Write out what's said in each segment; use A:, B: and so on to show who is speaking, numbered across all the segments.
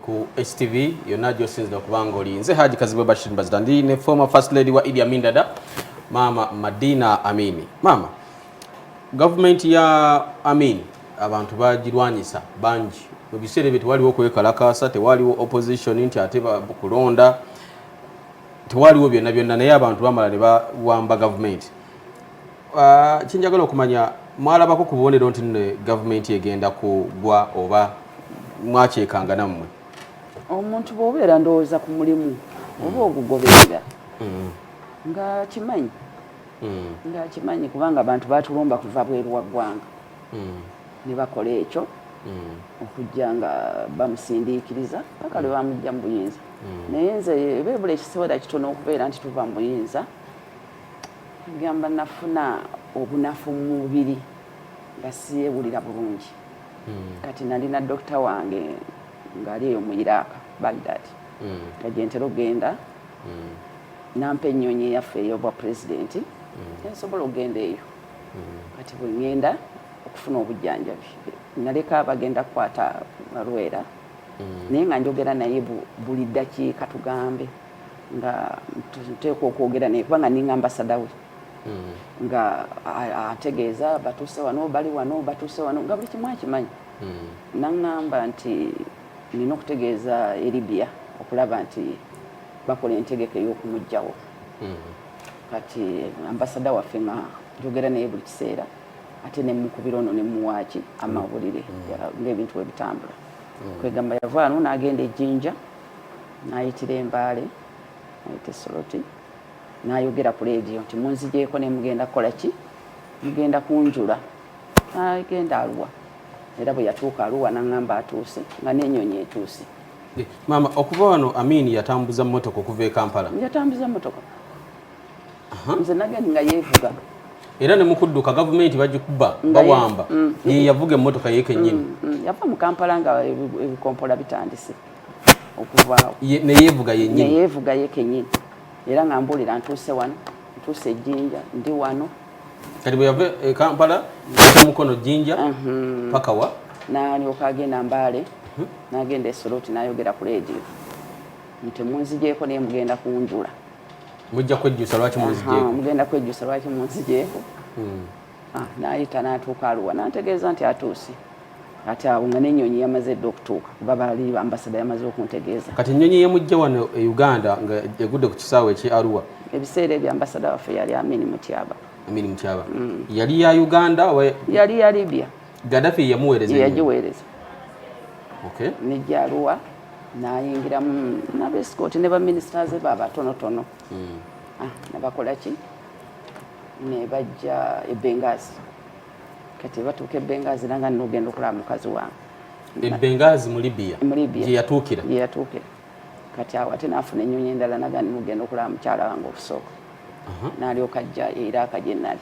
A: ku HTV yonna gyosinzira kubanga oli nze Haji Kazibwe Bashir Mbazira ndi ne former first lady wa Idi Amin Dada maama Madina Amini maama gavumenti ya Amin abantu bagirwanyisa bangi mu biseera ebyo tewaliwo kwekalakaasa tewaliwo opposition nti ate kulonda tewaliwo byonna byonna naye abantu bamala ne bawamba gavumenti Ah, kyenjagala okumanya mwalabako ku bubonero nti nno gavumenti egenda kugwa oba mwakyekanga nammwe omuntu
B: bwobeera ndowooza ku mulimu oba mm. ogugoberera mm. nga kimanyi mm. nga kimanyi kubanga abantu batulumba kuva bweru wa ggwanga ne bakola ekyo okujja nga bamusindiikiriza paka lwe bamujja mu buyinza naye nze beebula ekiseera kitono okubeera nti tuva mu buyinza agamba nafuna obunafu mu mubiri nga siyewulira bulungi hmm. kati nalina dokita wange ngaali eyo mu iraaka bagdad hmm. nga gyentera okugenda hmm. nampa ennyonyi yaffe eyobwa pulezidenti ensobola okugenda eyo kati bwengenda okufuna obujjanjabi naleka bagenda kukwata balwera naye nga njogera naye buli ddakiika tugambe nga nteekwa okwogera naye kubanga ninga ambasada we hmm. nga ategeeza batuuse wano bali wano batuuse wano nga buli kimu akimanyi hmm. naŋŋamba nti nina okutegeeza eribia okulaba nti bakola entegeka ey'okumugjawo hmm. kati ambasada waffe nga njogera naye buli kiseera ate nemukubira ono nemuwaaki amawulire ng'ebintu webitambula kwegamba yavaano n'agenda ejjinja nayitira embaale nayita esoloti nayogera ku leediyo nti munzijeeko ne mugenda kukola ki mugenda kunjula agenda aluwa era bwe yatuuka aluwa nangamba atuuse nga nenyonyi etuuse maama
A: okuva wano amin yatambuza motoka okuva e kampala yatambuza motoka
B: nze nagenda nga yevuga era ne
A: mukudduka gavumenti bagikuba bawamba mm, mm. ye yavuga emmotoka ye kennyini mm, yava mu kampala
B: nga ebikompola bitandise okuvaawo neyeevuga
A: yenyini neyeevuga ye kenyini
B: era nga mbuulira ntuuse wano ntuuse ejjinja ndi wano kati bwe yava
A: e kampala ata mukono jjinja mhm. paka wa nalyoka agenda mbaale hmm? nagenda esoloti nayogera ku leediyo nti munzijeeko naye mugenda kunjula mujja kwejjusa lwaki munzijeeko mugenda kwejjusa lwaki
B: munzijeeko hmm. Ah, n'ayita n'atuuka aluwa n'antegeeza nti atuuse ati awo nga n'ennyonyi yamaze edda okutuuka kuba baali ambasada yamaze okuntegeeza kati ennyonyi yemujja wano
A: e uganda nga egudde ku kisaawe ekye aruwa ebiseera ebyo ambasada
B: waffe yali amini mutyaba amini mutyaba mm.
A: yali ya uganda yali ya libya
B: gadafi yamuweereza
A: yagiweereza nejja aruwa
B: nayingiramu nabesikoti ne baminisita ze babatonotono mm. ah, nabakola ki nebajja ebengazi kati batuuka ebengazi nanga nogenda okulaba mukazi wange ebengazi
A: mu libya gyeyatuukira gyeyatuukira
B: kati awo ate nafuna enyonyi endala naga nogenda okulaba mukyala wange okusooka nalyoka ajja eiraaka gyenali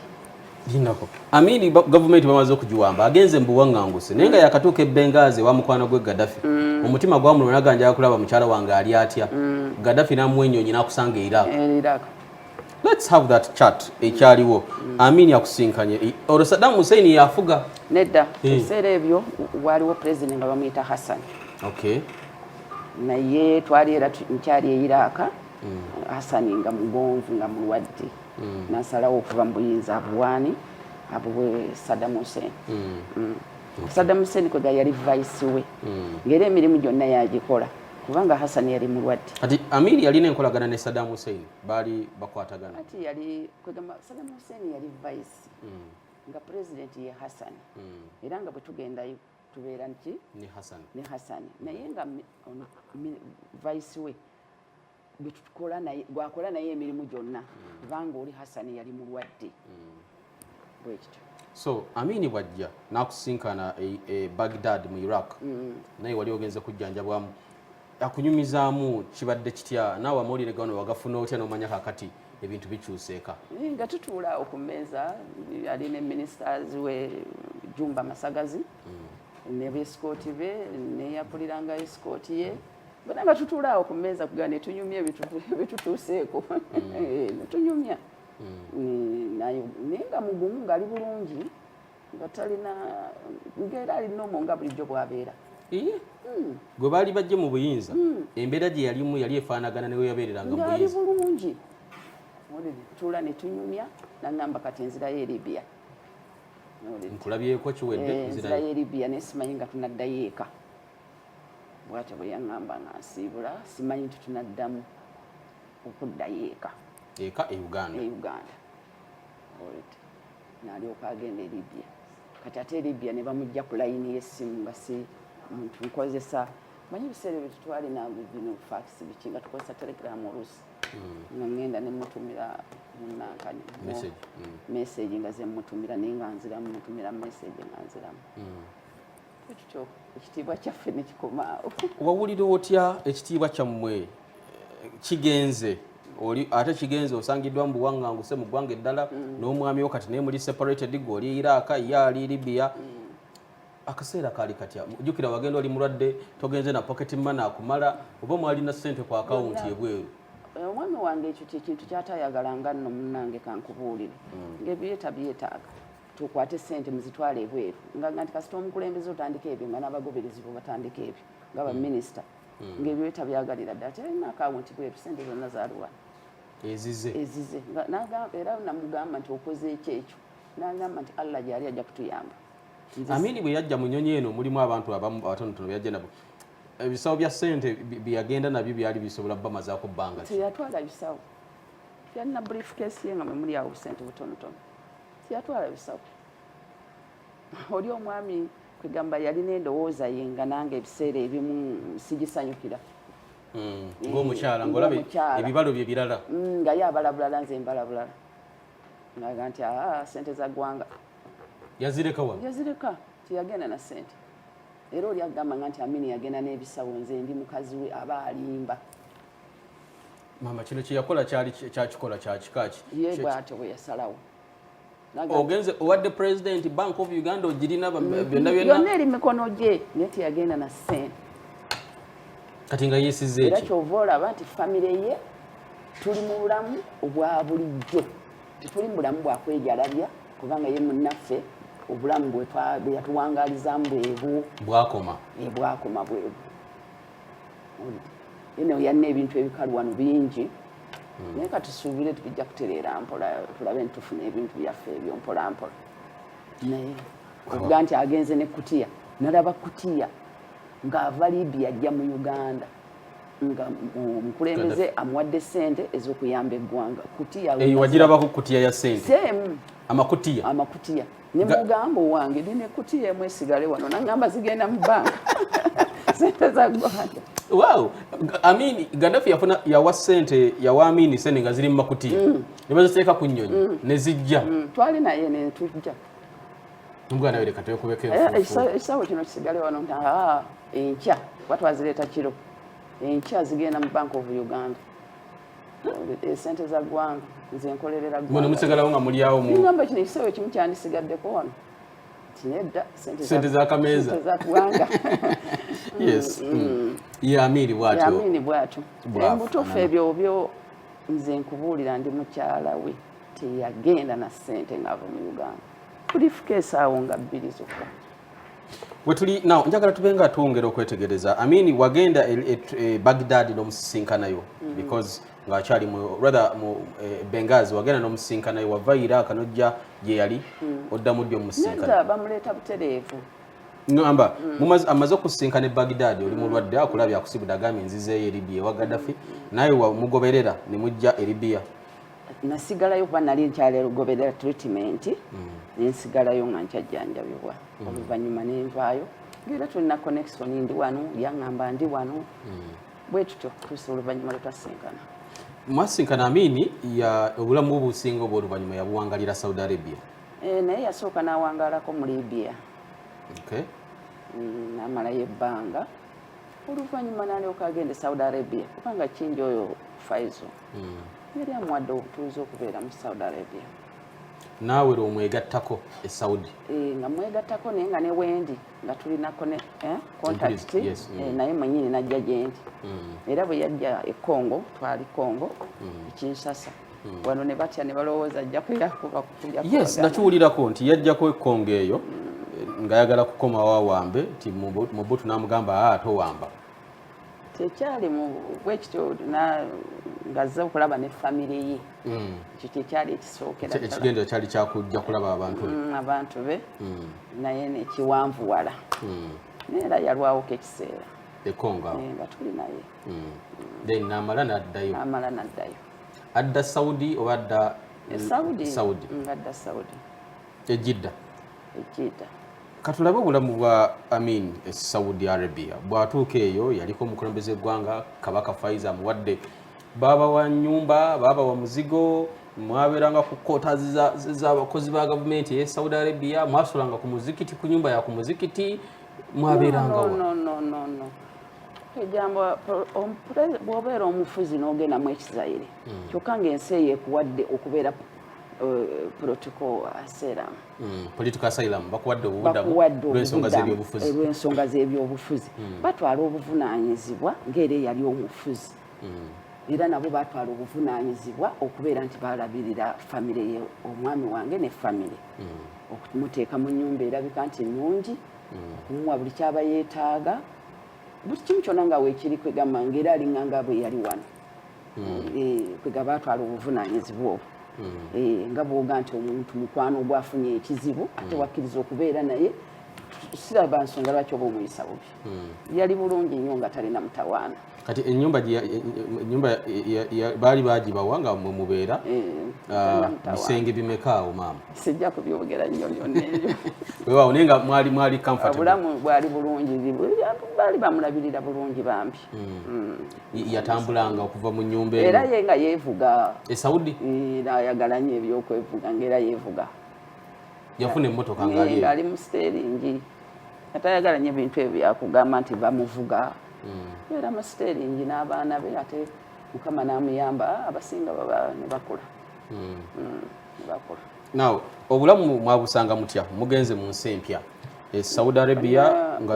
B: linako
A: amini gavumenti bamaze okugiwamba agenze mubuwaŋŋanguse naye nga yakatuuka ebengazi ewa mukwano gwe gadafi mm. omutima gwamulwa naga njaga kulaba mukyala wange ali atya mm. gadafi namuwa enyonyi nakusanga eiraaka let's have that chat ekyaliwo mm. amini akusinkanye olwo saddam hussein yafuga nedda eh. ebiseera
B: ebyo waaliwo president nga bamuyita hassan okay
A: naye
B: twali era nkyali eiraaka mm. hasani nga mugonvu nga mulwadde mm. nasalawo okuva mu buyinza abuwaani abuwe sadam hussein mm. sadam hussein kwega yali vice we ngaera emirimu gyonna yagikola kubanga hasani yali mulwadde kati amiri yalina
A: enkolagana ne sadam hussein baali bakwatagana ati yali
B: kwegamba Saddam Hussein yali vice mm. nga president ye Hassan mm. era nga bwetugenda tubeera nti ne Hassan ne
A: Hassan mm. naye nga
B: vice we gwetukola naye gwakola naye emirimu gyonna mm. kubanga mm. oli Hassan yali mulwadde mm. so
A: amini bwajja nakusinkana e, e bagdad mu iraq mm. naye wali ogenze kujjanjabwamu akunyumizaamu kibadde kitya naawe amawulire gano wagafuna otya nomanya kakati ebintu bikyuseeka nga tutuula
B: awo ku mmeeza ali ne ministers we jumba masagazi mm. ne beskooti be neyakuliranga eskooti ye bona nga tutuula awo ku mmeeza kugaa netunyumya ebitutuuseeko mm. eh, netunyumya mm. naye nga mugumu ngali bulungi nga talina ngaera ali nomo nga bulijjo bwabeera mm.
A: gwe baali bajje mu buyinza mm. embeera gye yalimu yali efaanagana newe yabeereranga mubuyiali bulungi
B: tuula netunyumya nangamba kati enzirayo eribia nkulabyeko
A: kiwedde eh, enzirayo eribia naye
B: simanyi nga tunaddayo eka bwatyo bwe yaŋŋamba nga nsiibula simanyi nti tunaddamu okuddayo eka eka e uganda e
A: uganda
B: nalyoka agenda e libya kati ate e libya ne bamujja ku layini y'essimu nga si muntu nkozesa manyi ebiseera ebyo tutwali nabino fakisi biki nga tukozesa telegram oluusi hmm. nga ngenda nemutumira munankani meseji hmm. nga zemutumira naye nga nziramu mutumira meseji nga nziramu hmm. ekyo ekitiibwa kyaffe nekikomaawo wawulira otya
A: ekitiibwa kyammwe eh, kigenze oli ate kigenze osangiddwa mu buwaŋŋanguse mu ggwanga eddala mm. n'omwami wo kati naye muli separated gwe oli iraaka ye ali libya mm. akaseera kaali katya jukira wagenda oli mulwadde togenze na pocket money akumala oba mwalina sente ku akawunti ebweru eh, omwami wange
B: ekyo kyekintu kyatayagalanga nno munange kankubuulire mm. ngebyeta byetaaga tukwate sente muzitwale ebweru nga nti kasita omukulembeze otandika ebyo nga n'abagoberezi bo batandika ebyo nga baminisita hmm. hmm. ngaebyo tabyagalira dda ati alina akawunti bweru sente zonna zaluwa ezize ezize era namugamba nti okoze ekyo ekyo nagamba nti allah gyali ajja kutuyamba amini bwe
A: yajja mu nyonyi eno mulimu abantu abamu abatonotono beyajja nabo ebisawo bya sente byeyagenda nabyo byali bisobola bamazako bbanga teyatwala bisawo
B: yalina brief case ye nga mwemuli awo busente butonotono tiyatwala bisawo oli omwami kwegamba yalina endowooza ye nga nange ebiseera ebimu sigisanyukira hmm,
A: ngaomukyala eh, ngaolaba ebibalo bye birala hmm, nga ye abala bulala
B: nze mbala bulala ngaga nti aa sente za ggwanga yazireka
A: wa yazireka tiyagenda
B: na sente era oli agamba nga nti amini yagenda n'ebisawo nze ndi mukazi we aba alimba
A: maama kino kyeyakola kyali kyakikola kyakikaaki ye bwatyo bwe
B: yasalawo
A: ogenze owadde president bank of uganda ogirina byonna byonna yonna eri mikono gye
B: naye teyagenda na sente
A: kati nga yesiza eki era kyova olaba nti
B: famire ye tuli mu bulamu obwa bulijjo tetuli mu bulamu bwakwejalabya kubanga ye munnaffe obulamu bweyatuwangalizaamu bwebu bwakoma
A: bwakoma bwebu
B: eno yalina ebintu ebikalu wano bingi hmm. naye katusuubire tubijja kutereera mpola tulabe ntitufuna ebintu byaffe ebyo mpolampola naye okuga nti agenze ne kutiya nalaba kutiya ng'ava libya ajja mu uganda nga omukulembeze amuwadde sente ez'okuyamba eggwanga kutiya eh, wagirabako kutiya
A: ya sente amakutiya amakutiya ne mugamba owange ndi ne kutiya emu esigale wano nangamba zigenda mu banka sente za gwanda wow i mean gaddafi yafuna yawa sente yawa amini sente nga ziri mu makutiya mm. ne baziteeka ku nnyonyi mm. ne zijja mm. twali naye ne
B: tujja
A: omwana we leka twekubeko eh, ekisawe kino
B: kisigale wano nti ah, enkya kuba twazireeta kiro enkya zigenda mu bank of uganda esente za ggwanga nze nkolerera ggwanga musigalawo nga
A: mulyawo mu ngamba kino ekiseera ekimu
B: kyandisigaddeko wano tinedda sente za
A: kameeza za ggwanga
B: yes
A: mm, mm. mm. yamiini bwatyo yamiini bwatyo
B: mubutuufu ebyo byo nze nkubuulira ndi mukyala we teyagenda na sente ng'ava mu uganda kulifuka esaawo nga bbiri zokka wetuli
A: naw njagala tube nga twongera okwetegereza amini wagenda e, e, e bagdad nomusisinkanayo mm. because ngaakyali rather mu e, bengazi wagenda nomusisinkanayo wava iraq nojja gyeyali mm. oddamu ddi omusisinkanabamuleeta butereevu
B: ngamba
A: mm. amaze okusisinkana e bagdad oli mulwadde akulabye akusibude agambye nzizeeyo eribiya ewa gaddafi naye mugoberera nemujja eribiya nasigalayo
B: kuba nali nkyali lugoberera treatment mm. nensigalayo nga nkyajjanjabibwa mm. oluvannyuma nenvaayo ngaera tulina connection ndi wano yaŋamba ndi wano mm. bwe tutyo tusa oluvannyuma lwetwasinkana mwasinkana
A: amini obulamu obusinga obwo oluvannyuma yabuwangalira saudi arabia eh, naye yasooka
B: nawangalako mu libia namalayo ebbanga oluvannyuma nalyoka agenda e saudi arabia kubanga kingi oyo faizo hmm. yali amuwadde obutuuzi okubeera mu saudi arabia naawe
A: lwe omwegattako e saudi eh, nga mwegattako
B: naye nga ne wendi nga tulinako ne eh, contact eh, hmm. naye mwenyini najja gyendi hmm. era bwe yajja e congo twali congo ekinsasa wano ne batya ne balowooza ajja kuyakubakuyaes
A: nakiwulirako nti
B: yajjako
A: e
B: congo
A: eyo ngayagala kukomawo awambe nti mubutu namugamba aa ah, towamba kyekyali
B: bwekityo ngazze okulaba ne famire ye hmm. ekyo kyekyali ekisookerakigendo kyali kyakujja
A: kulaba abantu hmm, abantu be
B: hmm. naye nekiwanvuwala naye era yalwawoko ekiseera ekonga eh,
A: nga tuli naye
B: then
A: namala naddayo amala naddayo adda saudi oba adda eh, saudi adda saudi
B: e Jidda
A: e Jidda katulabe obulamu bwa Amin e Saudi Arabia bwatuuka eyo yaliko omukulembeze gwanga kabaka Faiza amuwadde baaba wa nyumba baaba wa muzigo mwaberanga ku kota z'abakozi ba gavumenti eye Saudi Arabia mwasulanga ku muzikiti ku nyumba ya ku muzikiti mwaberangawo no, no, no, no.
B: ejambo bwobeera omufuzi n'ogendamu ekizayire hmm. kyokka ngaensi eyo ekuwadde okubeera Eh, political asylum
A: hmm, political asylum bakuwadde obubudamuolwensonga
B: z'ebyobufuzi eh, hmm. batwala obuvunaanyizibwa ng'era eyali omufuzi hmm. era nabo batwala obuvunaanyizibwa okubeera nti balabirira famire ye omwami wange ne famire okumuteeka mu nyumba erabika nti nungi okumuwa buli kyaba yeetaaga buli kimu kyona nga weekiri kwegamba ngaera alinganga bwe yali wano mm. eh, kwegaba atwala obuvunanyizibwa obwo mm. eh, nga bwoga nti omuntu mukwano ogwafunye ekizibu ate mm. wakkiriza okubeera naye siraba nsonga lwaki oba omuyisa bubi yali bulungi nnyo nga talina mutawaana kati enyumba
A: enyumba baali bagibawa nga mwe mubeera ah, bisenge bimeka awo maama sijja kubyogera
B: nnyo byonna ebyo wewawo naye nga
A: mwali mwali comfortable obulamu bwali bulungi
B: baali bamulabirira bulungi bambi hmm. Hmm.
A: yatambulanga okuva mu nyumba era ye nga yevuga
B: e saudi
A: era ayagala nyo
B: ebyokwevuga nga era yevuga yafuna
A: emotoka ngaali mu
B: siteringi atayagala nyo ebintu ebyo byakugamba nti bamuvuga hmm. era mu siteringi n'abaana be ate mukama namuyamba abasinga baba nebakula hmm. hmm, nebakula
A: naw obulamu mwabusanga mutya mugenze mu nsi empya e saudi arabia nga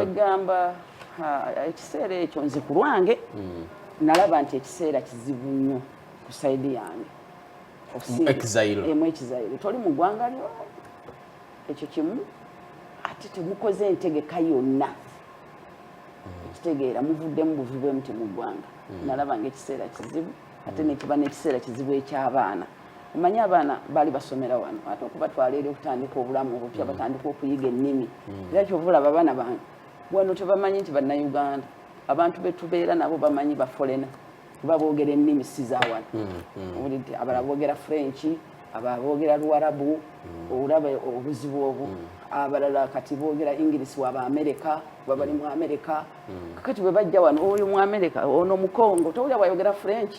B: Ah, ekiseera ekyo nze ku lwange hmm. nalaba nti ekiseera kizibu nnyo ku saidi yange emu ekizayiro toli mu ggwanga lyo ekyo kimu ate temukoze entegeka yonna hmm. ekitegeera muvuddemu buvi bwemu temuggwanga hmm. nalaba nga ekiseera kizibu ate nekiba nekiseera kizibu ekyabaana omanyi abaana bali basomera wano ate okubatwala eri okutandika obulamu obupya batandika okuyiga ennimi era kyovulaba abaana bange wano tebamanyi nti bannayuganda abantu betubeera nabo bamanyi bafolena kuba boogera ennimi si za wano hmm, hmm. owulidde abala boogera french aba boogera luwarabu hmm. olaba obuzibu obu abalala kati boogera english waba amerika babali mu amerika kakati bwe bajja wano oyo mu amerika ono mukongo towulira bwayogera french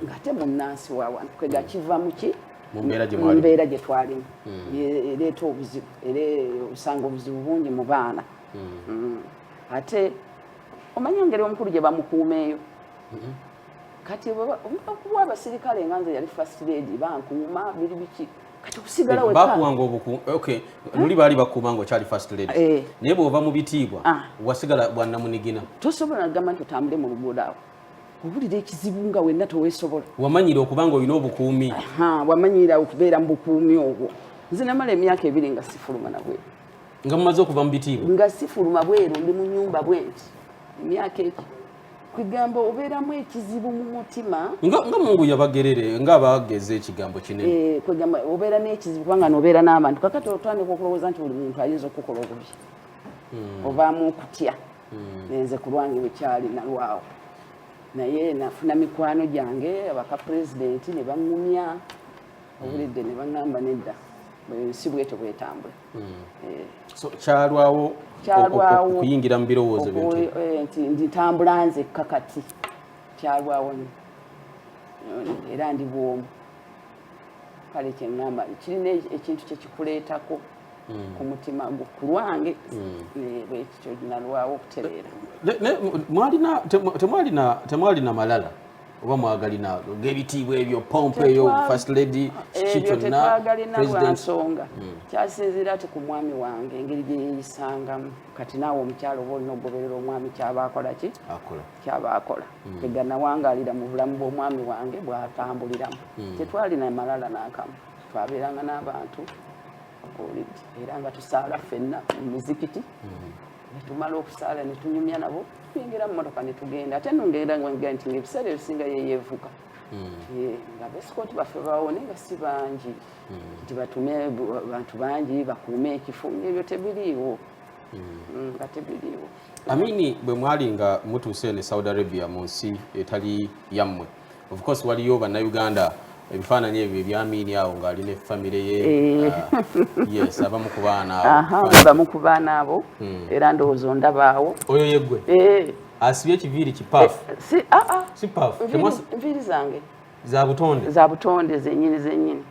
B: ngate munnansi wa wano kwegakiva muki mm. mu mbeera gye twalimu hmm. ereeta obuzibu era osanga obuzibu bungi mu baana hmm. Hmm. ate omanyi engeri omukulu gye bamukuumeeyo kati okuwa abasirikale nga nze yali first lady bankuuma biri biki kati okusigala eh, wekbakuwanga obuku
A: okay luli baali bakuuma nga okyali first lady eh. naye bw'ova mu bitiibwa ah. wasigala bwannamunigina tosobola nagamba nti
B: otambule mu luguudo awo obulira ekizibu nga wenna tewesobola wamanyira okuba nga olina
A: obukuumi wamanyira
B: okubeera mu bukuumi obwo nze namala emyaka ebiri nga sifuluma nabwe nga mumaze okuva
A: mu bitiibwa nga sifuluma bweru
B: ndi mu nyumba bwenti emyaka eki kwegamba obeeramu ekizibu mu mutima nga mungu
A: yabagerere nga abageza ekigambo kinene eh, kwegamba obeera
B: n'ekizibu kubanga nobeera n'abantu kakati otandika okulowooza nti buli muntu ayinza okukola obubi hmm. obaamu okutya hmm. nenze ku lwange wekyali nalwawo naye nafuna mikwano gyange abaka pulezidenti ne baŋŋumya obulidde ne baŋŋamba nedda si bwetyo bwetambula hmm. eh.
A: kyalwawo okuyingira mu birowoozo eh, nti
B: nditambula nzekka kati kyalwawo era ndi bwomu kale kyengamba kirina ekintu kyekikuleetako hmm. ku mutima gwo ku lwange hmm. eh, bwekityo nalwawo okutereera
A: temwalina malala oba mwagalina ngebitiibwa ebyo pompo eyo first lady kiki kyonnalwansonga
B: hmm. kyasinziira ti ku mwami wange engeri gyeyeyisangamu kati naawe omukyalo oba olina okugoberera omwami kyaba akolaki kyabaakola mm. teganawangalira mu bulamu bw'omwami wange bwatambuliramu mm. tetwalina malala nakamu twabeeranga n'abantu olidi era nga tusaala fenna mu mizikiti mm. netumala okusaala netunyumya nabo tuyingira mu motoka netugenda ate nongerera nga nti ngaebiseera ebisinga yeyevuga nga besikoti baffe bawone nga si bangi nti batume bantu bangi bakuume ekifo ebyo tebiriiwo nga tebiriiwo amini bwe
A: mwali nga mutuuse eno e saudi arabia mu nsi etali yammwe of course waliyo bannayuganda ebifaananyi ebyo ebyamiini awo ng'ali ne famire ye eh. ah, yes abamu ku baana abamu ku baana
B: abo hmm. era ndowooza ondabaawo oyo yeggwe
A: eh. asibye ekiviiri kipaafu eh, ah, ah. si paafu nviiri zange
B: za butonde za
A: butonde zenyini
B: zenyini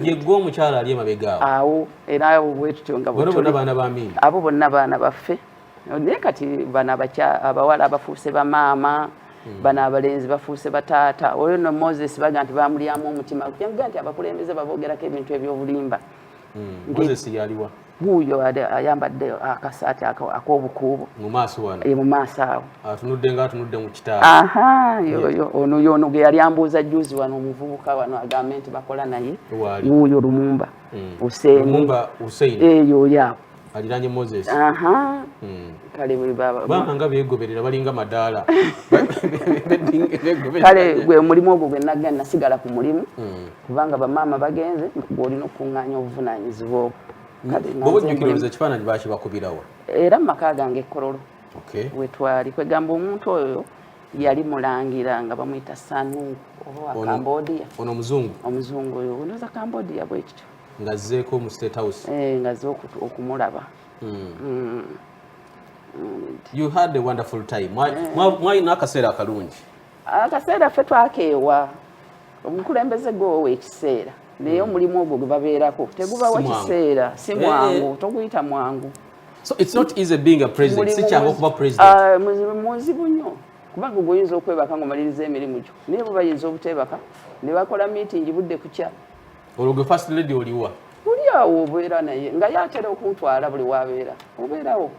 B: yegwe
A: omukyala ali emabega awo awo era awo
B: bwetutyo nga bwetuli bona baana ba mimi
A: abo bonna baana
B: baffe naye kati bano abawala abafuuse bamaama hmm. bano abalenzi bafuuse bataata oyo no moses baga nti bamulyamu omutima kujangaa nti abakulembeze babogerako ebintu ebyobulimba hmm.
A: moses yaliwa wuuyo
B: ayambadde akasaati ak'obukuubo
A: mu maaso awo
B: atunudde nga atunudde mu
A: kitaayoyo ono yono
B: gwe yali ambuuza juzi wano omuvubuka wano agambe nti bakola naye wuuyo lumumba hmm. husein eyo eh, yaawo aliranye moses
A: hmm.
B: kale bwebabanga
A: begoberera balinga madaala
B: kale gwe mulimu ogwo gwe nagga nasigala ku mulimu hmm. kubanga bamaama bagenze olina okukunganya obuvunanyizibwa obwo bobujjukiririza
A: ekifaananyi bakibakubirawa era mu maka
B: gange ekololo wetwali kwegamba omuntu oyo yali mulangira nga bamuyita sanungu oba wa cambodia ono omuzungu
A: omuzungu oyo
B: onoza cambodia bwekityo ngazzeeko mu
A: state house eh, ngazze okumulaba
B: hmm.
A: Hmm. you had a wonderful time mwalina akaseera akalungi akaseera ffe
B: twakeewa omukulembeze gwowa ekiseera naye hmm. omulimu ogwo gwe babeerako tegubawa kiseera si eh, eh. mwangu toguyita mwangu so it's not easy
A: being a president si kyangu okuba president ah, muzibu nnyo
B: kubanga ogwo oyinza okwebaka nga omaliriza emirimu gyo naye bo bayinza obuteebaka ne bakola miitingi budde kukya olwo gwe first
A: lady oliwa oli awo
B: obeera naye nga yatera okuntwala buli wabeera obeerawo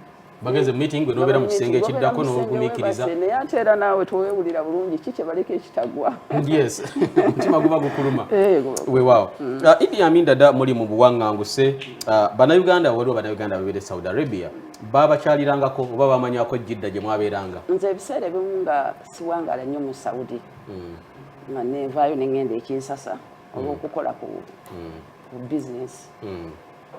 B: bagenze meeting
A: gwe nobera mu kisenge ekiddako n'ogumiikiriza naye ate era naawe
B: tewewulira bulungi ki kyebaleka ekitagwa yes omutima
A: guba gukuluma eh, wewaawo mm. ah, idi amin dada muli mu buwaŋŋanguse ah, bannayuganda waliwo bannayuganda babeera e saudi arabia babakyalirangako oba bamanyako jidda gye mwabeeranga nze ebiseera ebimu
B: nga siwangala nnyo mu saudi mm. nga nenvaayo nengenda ekinsasa mm. olwokukola ku bizinesi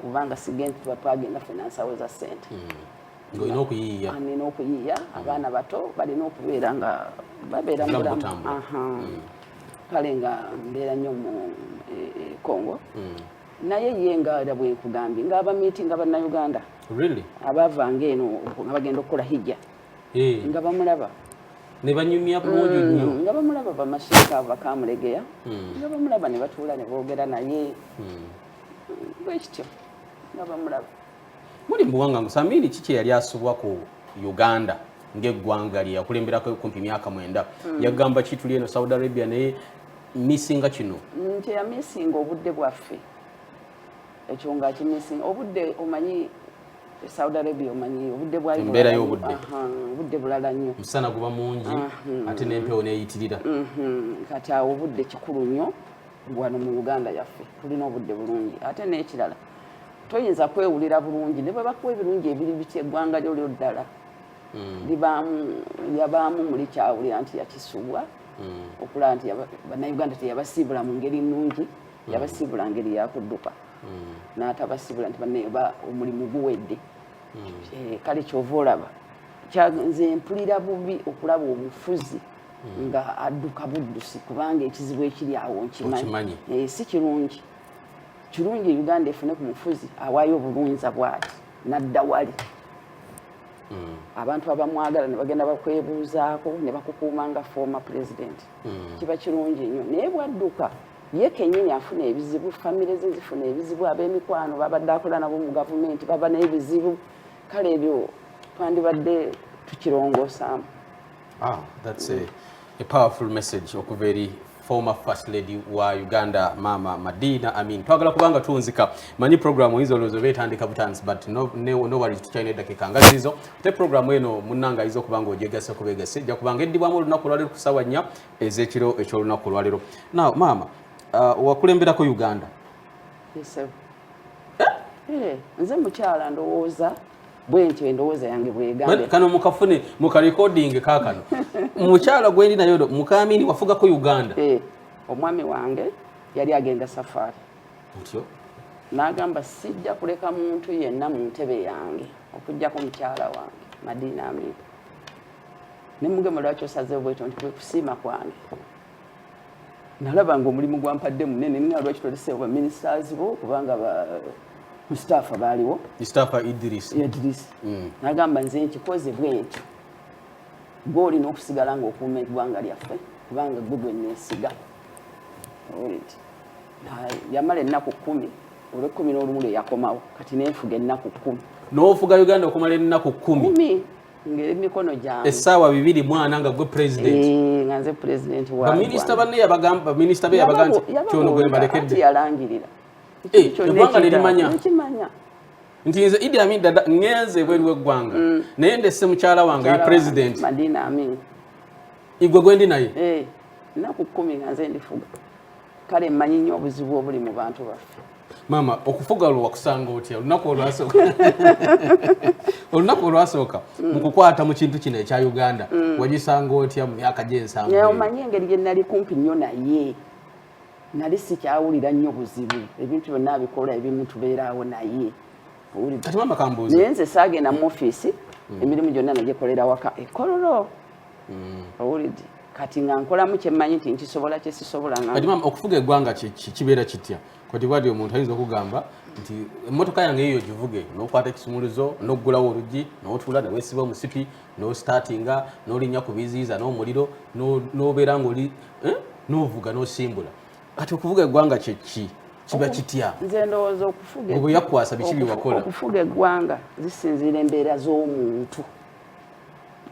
B: kubanga sigenti tuba twagenda fena nsawo za sente hmm. olina
A: okuyiiya nina okuyiiya hmm.
B: abaana bato balina okubeera nga babeera mubulamu hmm. kale nga mbeera nnyo mu e, e, congo naye ye nga era bwenkugambye nga abamiitinga bannayuganda abavanga eno nga bagenda okukola hijja eh. nga bamulaba nebanyumya
A: bulungi mm, nnyo nga bamulaba
B: bamasheeka bakamulegeya mm. nga bamulaba ne batuula ne boogera naye mm. bwekityo nga bamulaba muli mbuwanga
A: musamiini kiki eyali asubwa ku uganda ng'eggwanga lye yakulemberako kumpi myaka mwenda hmm. yagamba kituli eno saudi arabia naye misinga kino nti yamisinga
B: obudde bwaffe ekyo nga akimisinga obudde omanyi saudi arabia omanyi obudde bwaembeera y'obudde
A: obudde bulala
B: nnyo musana guba mungi
A: ate n'empewo neyitirira mhm. kati
B: awo obudde kikulu nnyo wano mu uganda yaffe tulina obudde bulungi ate n'ekirala toyinza kwewulira bulungi ne bwe bakuwa ebirungi ebiri bitya eggwanga lyo lyo ddala hmm. libaamu yabaamu muli kyawulira nti yakisubwa hmm. okulaba nti bannayuganda teyabasiibula mu ngeri nnungi hmm. yabasiibula ngeri yakudduka n'atabasiibula nti banaye ba omulimu guwedde eh, kale kyova olaba nze mpulira bubi okulaba obufuzi hmm. nga adduka buddusi kubanga ekizibu ekiri awo nkimanyi eh, si kirungi kirungi uganda efune ku mufuzi awaayo obulunza bwati nadda wali hmm. abantu abamwagala nebagenda bakwebuuzaako ne bakukuuma nga fooma pulezidenti hmm. kiba kirungi nnyo naye bwadduka ye kenyini afuna ebizibu famire ze zifuna ebizibu ab'emikwano babadde akola nabo mu gavumenti baba n'ebizibu kale ebyo twandibadde tukirongosaamu Ah,
A: that's a, a powerful message okuva eri former first lady wa Uganda mama Madina Amin twagala kubanga tunzika manyi program hizo lozo betandika butanzi but no, no, no worries tukyalina eddakiika nga zizo te program eno munnanga ayinza okuba nga ogyegase kubegase ja kubanga eddibwamu olunaku lwalero ku sawa nnya ez'ekiro eky'olunaku lwalero now maama uh,
B: wakulemberako
A: Uganda yes, sir. Eh? Eh,
B: nze mukyala ndowooza bwentyo endowooza yange bwegambe kano mukafune
A: mukarekodinge kakano mukyala gwendi nayo mukamini wafugako uganda eh, omwami
B: wange yali agenda safari ntyo
A: nagamba
B: sijja kuleka muntu yenna mu ntebe yange okujjako mukyala wange madiina amika nemugema lwaki osazewo bwetyo nti kwekusiima kwange nalaba nga omulimu gwampadde munene nga lwaki tolese ba ministers bo kubanga ba Mustafa baaliwo Mustafa Idris
A: Idris mm. nagamba
B: nze nkikoze bwentyo gwe olina okusigala ng'okuuma eggwanga lyaffe kubanga gwe gwe neesiga yamala ennaku kkumi olw'ekkumi n'olumu lwe yakomawo kati nenfuga ennaku kkumi n'ofuga uganda
A: okumala ennaku kkumi ngemikono
B: gyange essaawa bibiri mwana
A: nga gwe president eh, nga nze
B: president wa baminisita banne yabagamba
A: baminisita be yabaga nti kyono gwe mbalekedde yalangirira
B: eh, eggwanga
A: nerimanya nti nze idi amin dada ngenze ebweru w'eggwanga mm. naye ndesse mukyala wange ye president madina
B: amin igwe
A: gwendi naye eh, nnaku
B: kkumi nga nze ndifuga kale mmanyi nnyo obuzibu obuli mu bantu baffe maama okufuga
A: olwo wakusanga otya olunaku olwasooka olunaku olwasooka mm. mu kukwata mu kintu kino ekya uganda mm. wagisanga otya mu myaka gy'ensanvu omanyi engeri gye nali
B: kumpi nnyo naye nali sikyawulira nnyo buzibu ebintu byonna abikola ebimu tubeeraawo naye
A: naye nze saagenda mu
B: ofiisi mm. emirimu gyonna nagyekolera waka ekololo mm. owulidde kati nga nkolamu kyemmanyi nti nkisobola kyesisobola kati maama okufuga
A: eggwanga kibeera kitya kati bwati omuntu ayinza okugamba nti emmotoka yange eyo givuge n'okwata ekisumuluzo n'okugulawo oluggi n'otuula newesiba omusipi n'ositaatinga n'olinnya ku biziyiza n'omuliro n'obeera ng'oli eh, n'ovuga n'osimbula kati okuvuga eggwanga kyeki kiba kitya nze ndowooza
B: okufuga okufuga
A: eggwanga
B: zisinziira embeera z'omuntu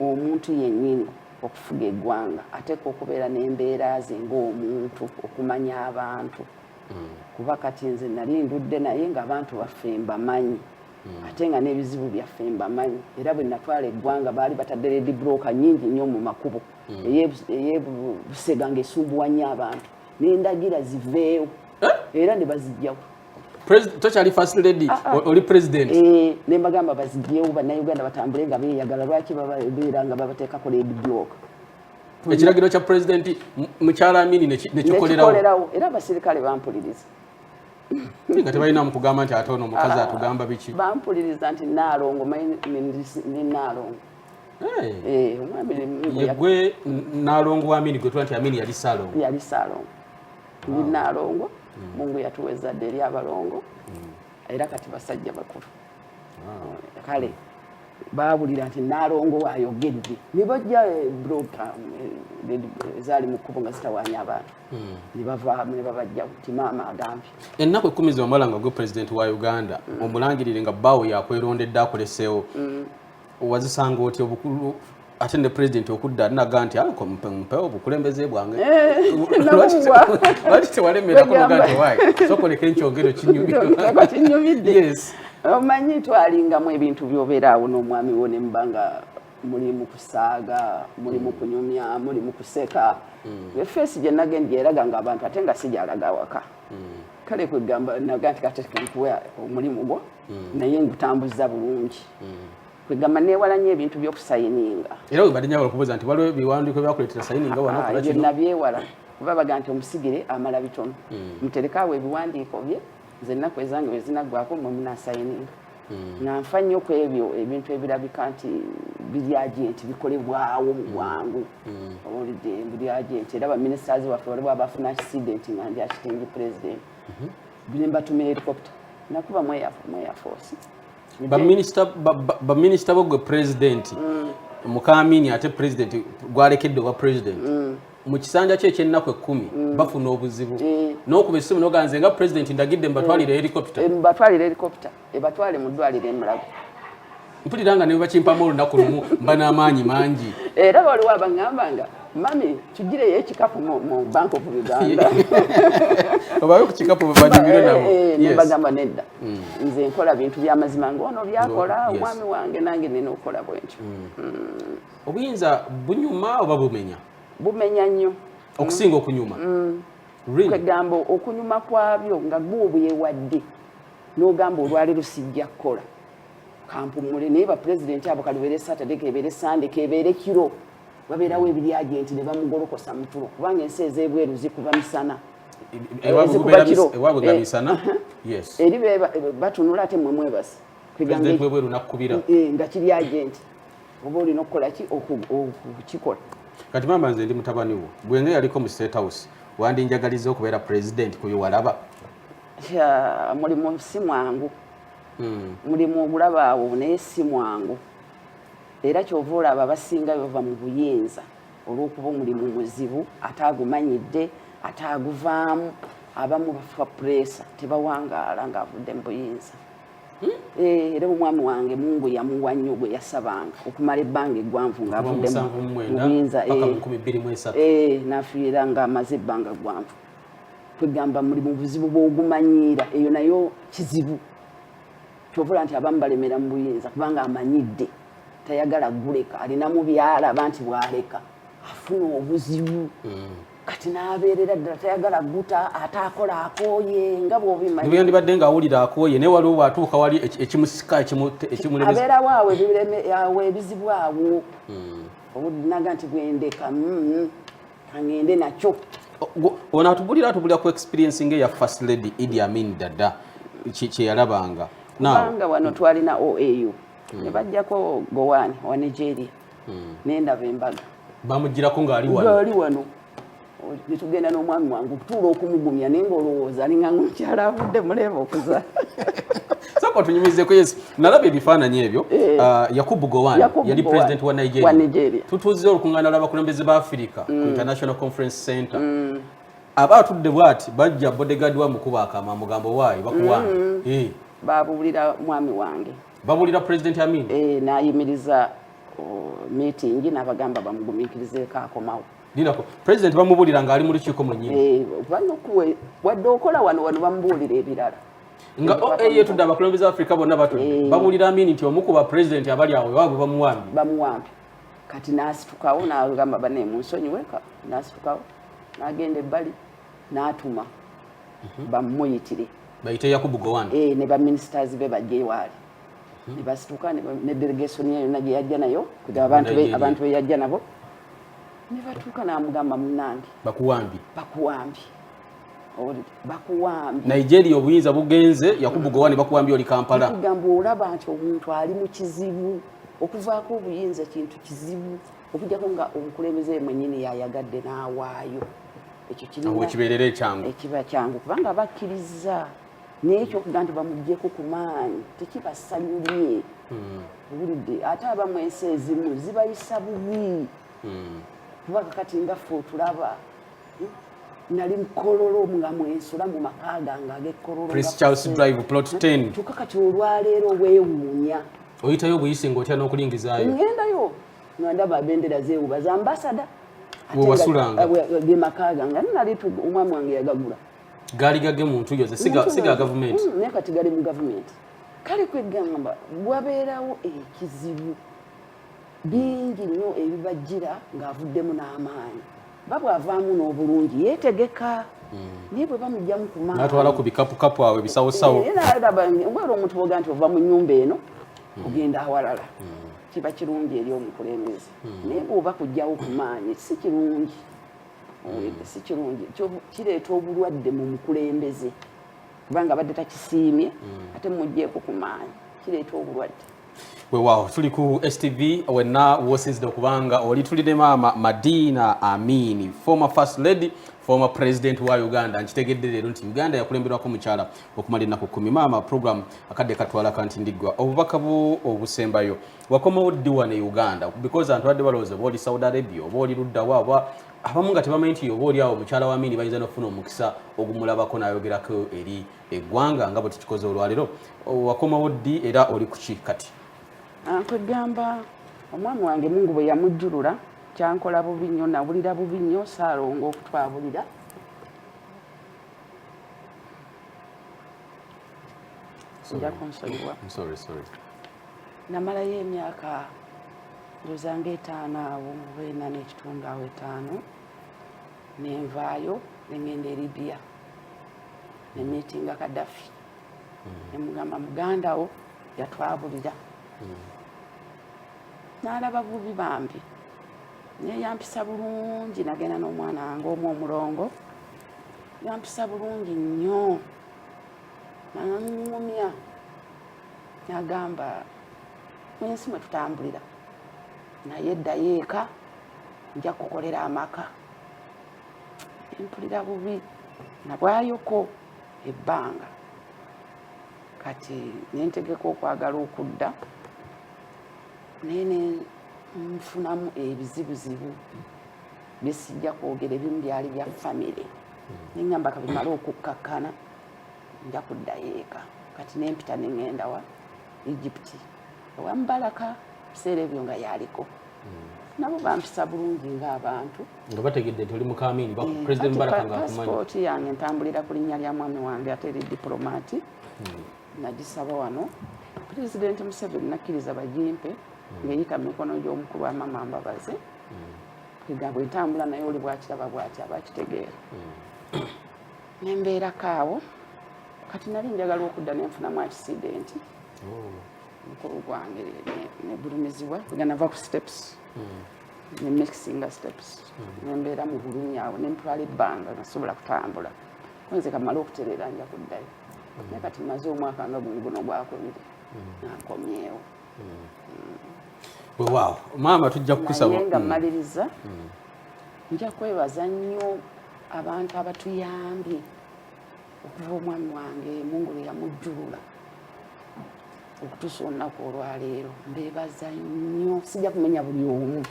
B: omuntu yennyini okufuga eggwanga ateekwa okubeera n'embeera ze ng'omuntu okumanya abantu hmm. kuba kati nze nali ndudde naye ng'abantu baffe mbamanyi hmm. ate nga n'ebizibu byaffe mbamanyi era bwe natwala eggwanga baali batadde ledi broka nyingi nnyo mu makubo hmm. eyebusega ng'esumbuwa nnyo abantu nendagira ziveewo eh? era ne bazijjawo tokyali
A: first lady ah, ah. oli president eh, ne mbagamba
B: bazigiyewo bannayuganda batambule nga beeyagala lwaki babeera nga babateekako led block ekiragiro
A: kya pulezidenti mukyala amini nekikolerawo era abasirikale
B: bampuliriza
A: nga tebalinamu kugamba nti ate ono mukazi ah, atugamba biki bampuliriza nti
B: naalongo ni naalongo eh,
A: yegwe naalongo wa amini gwe tuba nti amini yali saalongo yali saalongo ndi
B: ah. naalongo mm. mungu yatuwa ezzadde eri abalongo mm. era kati basajja bakulu ah. kale baawulira nti naalongo waayogedde ne bajja eh, broka eh, ezaali mu kkubo nga zitawaanya abantu hmm. ne bavaamu ne babajja nti maama agambye ennaku ekkumi zewamala
A: nga gwe pulezidenti wa uganda hmm. omulangirire nga bbaawo yakwelondedde akoleseewo hmm. wazisanga oti obukulu ate ne president okudda naga nti anko mpe mpe obukulembeze bwange eh, lwaki tewalemera kunoga nti wayi sokoleka enkyogero kinyumidde omanyi
B: twalingamu ebintu byobeera awo n'omwami wo ne muba nga muli mu kusaaga muli mu kunyumya muli mu kuseka hmm. efeesi gye nagendi eraga nga abantu ate nga sigyalaga awaka hmm. kale kwegamba naga nti katekenkuwa omulimu gwo mm. naye ngutambuza bulungi mm. kwegamba newala nyo ebintu byokusayininga era webadde nyawo okubuuza
A: nti waliwo ebiwandiiko byakuleetera sayininga wanaebyo ah, nabyewala
B: kuba baga nti omusigire amala bitono mm. muterekaawo ebiwandiiko bye nze ennaku ezange wezinaggwako mwe munasayininga nga nfa nnyo ku ebyo ebintu ebirabika nti biri agenti bikolebwawo mu bwangu owulidde biri agenti era baminisitazi waffe waliwo abafuna akisidenti nga ndi akitingi pulezidenti nembatuma helicopter nakuba mweyafoosi
A: baminisita bo gwe pulezidenti mm. mukamini ate pulezidenti gwalekedde obwa pulezidenti mm. mu kisanja kye ekyennaku ekkumi mm. bafuna obuzibu n'okuba essimu noganze nga pulezidenti ndagidde mbatwalire helicopter
B: ebatwale mu ddwaliro emulago mpulira
A: nga newebakimpamu olunaku lumu mba n'amaanyi mangi era waliwo
B: abangamba nga mami tugireyo ekikapu mu bank of uganda
A: obawe ku kikapu banyumire eh, nabo eh, nebagamba nedda
B: hmm. nze nkola bintu byamazima ngaono byakola omwami wange nange nina okukola bwentyo hmm. Hmm.
A: obuyinza bunyuma oba bumenya bumenya
B: nnyo okusinga okunyuma kwegamba okunyuma kwabyo nga gwe obwewadde n'ogamba olwaleero sijja kukola kampumule naye bapulezidenti abo kalubeere saturday kebeere sande kebeere kiro babeerawo ebiryagenti ne bamugolokosa mutulo kubanga ensi ez'ebweru zikuba misana ezikuba
A: kiro eh, eri
B: batunula ate mwe mwebasi eh,
A: nga kiri agenti
B: oba olina okukola ki okukikola kati maama
A: nze ndi mutabani wo gwenga yaliko mu state house wandinjagaliza okubeera pulezidenti kuyo walaba mulimu
B: si mwangu hmm. mulimu ogulaba awo naye si mwangu era kyova olaba abasinga bava mu buyinza olw'okuba omulimu muzibu ate agumanyidde ate aguvaamu abamu bafa pureesa tebawangaala ng'avudde mu buyinza hmm? eh, era omwami wange mungu yamuwa nnyo gwe yasabanga okumala ebbanga eggwanvu ng'avudde mu buyinza eh, eh, nafiira ng'amaze ebbanga ggwanvu kwegamba muli mu buzibu bwogumanyiira eyo nayo kizibu kyovula nti abamu balemera mu buyinza kubanga amanyidde tayagala guleka alinamu byalaba nti bwaleka afuna obuzibu mm. kati nabeerera ddala tayagala guta ate akola akooye nga bwobimaniyandibadde nga awulira
A: akooye naye waliwo bwatuuka wali ekimusika ekimuleabeerawo
B: awo ebizibu awo hmm. obudinaga nti bwendeka hmm. kangende nakyo ono
A: atubulira atubulira ku experience nga eya first lady idi amin dada kyeyalabanga kubanga
B: wano twalina oau hmm. ne bajjako gowani wa nigeria hmm. nendaba embaga bamugirako
A: ngaali wano
B: netugenda n'omwami wange okutuula okumugumya naye ngaolowooza alinga ngaomukyala avudde muleeba okuza
A: sako tunyumizeko yesu nalaba ebifaananyi ebyo eh. ah, yakubu gowan yali president wa nigeria tutuuzizza olukungana lw'abakulembeze ba afirika ku mm. international conference center mm. aba atudde bwati bajja bodegadi wa mukuba akama mugambo waayo bakuwanga mm. eh. babuulira
B: mwami wange babuulira president
A: amin eh, nayimiriza
B: meeting nabagamba bamugumiikirizeeko akomawo dinako president
A: bamubuulira ng'ali mu lukiiko mwenyini
B: wadde okola wano wano bamubuulira ebirala nga oaye
A: tudde abakulembeze afrika bonna batudde eh. babulira amini nti omu ku bapresident abali awo ewabwe bamuwambi bamuwambi
B: kati nasitukawo nagamba bane munsonyiwe nasitukawo nagenda ebbali natuma mhm. bamuyitire bayite
A: yakubu gowan eh, ne baministers be
B: bajje ewaali mhm. ne basituka ne delegation ye yonna gye yajja nayo abantu be yajja nabo ne batuuka namugamba munange bakuwambi bakuwambi
A: bakuwambye nigeria obuyinza bugenze yakubu gowani bakuwambye oli kampala kugamba olaba nti
B: omuntu ali mu kizibu okuvaako obuyinza kintu kizibu okujjako nga omukulembeze mwenyini yayagadde n'awaayo ekyo kibeerera ekyangu
A: ekiba kyangu kubanga
B: bakkiriza naye ekyokuga nti bamugjeko ku maanyi tekibasanyulye hmm. owulidde ate abamu ensi ezimu zibayisa bubi hmm. kubanga kati nga fe otulaba nali mukololo nga mwensula mu maka gange
A: ag'ekololokyokka kati olwaleero
B: weewuunya oyitayo obuyisi
A: nga otya n'okulingizayo ngendayo
B: nga ndaba bendera zeewuba za ambasada wewasulanga
A: gemaka
B: gange ani nali omwami wange yagagula gaali gage
A: muntu yo siga gavumenti mm, naye kati gali mu
B: gavumenti kale kwegamba wabeerawo ekizibu bingi nnyo ebibajjira ng'avuddemu n'amaanyi nga bw'avaamu n'obulungi yeetegeka hmm. naye bwe bamugyamu ku maanyi natwala ku bikapukapu awo
A: ebisawosawo eh, ngwera
B: omuntu boga nti ova mu nnyumba eno hmm. ogenda awalala hmm. kiba kirungi eri omukulembeze naye bw'oba kujjawo ku maanyi si kirungi si kirungi kireeta obulwadde mu mukulembeze kubanga abadde takisiimye ate mujjeeko ku maanyi kireeta obulwadde wewawo tuli
A: ku stv wenna wosinzidde okubanga oli tuli ne maama madina amini former first lady former president wa uganda nkitegedde leero nti uganda yakulemberwako mukyala okumala ennaku kumi maama program akadde katwala kanti ndiggwa obubaka bwo obusembayo wakomawo ddiwa ne uganda because antu badde balowooza oba oli saudi arabia oba oli luddawo aba abamu nga tebamanyi nti oba oli awo mukyala wa amini bayinza nokufuna omukisa ogumulabako nayogerako eri eggwanga nga bwe tukikoze olwalero wakomawo ddi era oli kuki kati ah, kwegamba
B: omwami wange mungu bwe yamujjulula kyankola bubi nnyo nawulira bubi nnyo saalonga okutwabulira nja kunsonyiwa namalayo emyaka ndozanga etaano awo mubeena n'ekitundu awo etaano nenvaayo nengenda eribiya nenetinga kadafi nemugamba muganda wo yatwabulira nalaba bubi bambi naye yampisa bulungi nagenda n'omwana wange omu omulongo yampisa bulungi nnyo naŋumya nagamba ensi mwe tutambulira naye eddayo eka nja kukolera amaka mpulira bubi nabwayoko ebbanga kati nentegeka okwagala okudda naye nenfunamu ebizibuzibu byesijja kwogera ebimu byali bya famire nengamba kabimale okukkakkana nja kuddayo eka kati nempita nengenda wa egypti ewa mubalaka ebiseera ebyo nga yaliko nabo bampisa bulungi ng'abantu nga bategedde nti
A: oli mukamiini mm. president mubaraka ngaakumanyipaaspooti yange ntambulira
B: ku linnya lya mwami wange ate eri dipulomati mm. nagisaba wano pulezidenti museveni nakkiriza bagimpe mm. ng'eyita mu mikono gy'omukulu wa mama mbabazi ega bwe ntambula naye oli bwakiraba bwati aba akitegeera nembeerako awo kati nali njagala okudda nenfunamu akisidenti mukulu gwange negulumizibwa ganava ku steps hmm. ne mixinga steps hmm. nembeera mu bulumi awo nentwala ebbanga nasobola kutambula nze kamala okutereera nja kuddayo hmm. naye kati maze omwaka nga gumu guno gwakwende nankomyewo
A: wewaawo maama tujja kukusaba nga mmaliriza
B: nja kwebaza nnyo abantu abatuyambye okuva omwami wange mungu lwe yamujjulula okutuusa olunaku olwaleero mbeebaza nnyo sijja kumenya buli omu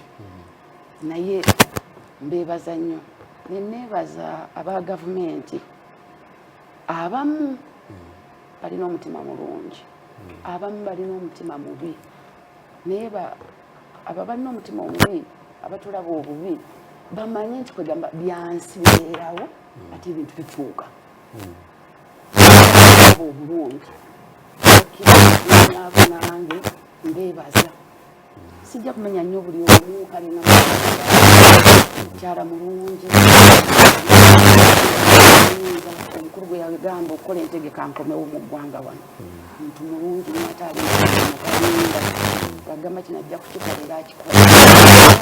B: naye mbeebaza nnyo neneebaza aba gavumenti abamu balina omutima mulungi abamu balina omutima mubi naye aba balina omutima omubi abatulaba obubi bamanye nti kwegamba byansi bibeerawo ate ebintu bifuuka obulungi abo nange mbeebaza sijja kumenya nnyo buli omu kalina mukyala mulungi omukulu gwe yagamba okukola entegeka nkomewo mu ggwanga wano muntu mulungi nataalimukalinda agamba kino ajja kukikolera akikola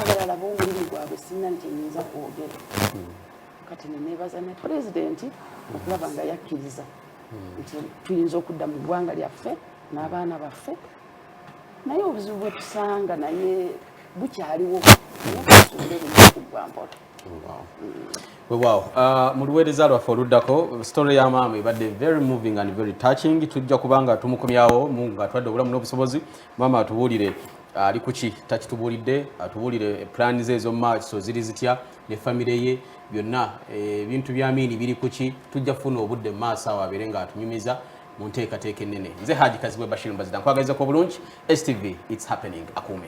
B: abalala b'omulimu gwabwe sinna nti nyinza kwogera kati nenebaza ne pulezidenti okulaba nga yakkiriza nti tuyinza okudda mu ggwanga lyaffe n'abaana baffe naye obuzibu bwetusanga naye bukyaliwo nayeubulebugwambola
A: wewaawo uh, mu luweereza lwaffe oluddako story ya maama ebadde very moving and very touching tujja kubanga tumukomyawo mungu atwadde obulamu n'obusobozi maama atubuulire ali kuki takitubuulidde atubuulire plan ze ezomumaaso ziri zitya ne famire ye byonna eh, ebintu bya miini biri kuki tujja kufuna obudde mu maaso awo abeere nga atunyumiza mu nteekateeka ennene nze haji kazibwe bashir mbazida nkwagaliza ku obulungi stv its happening akuume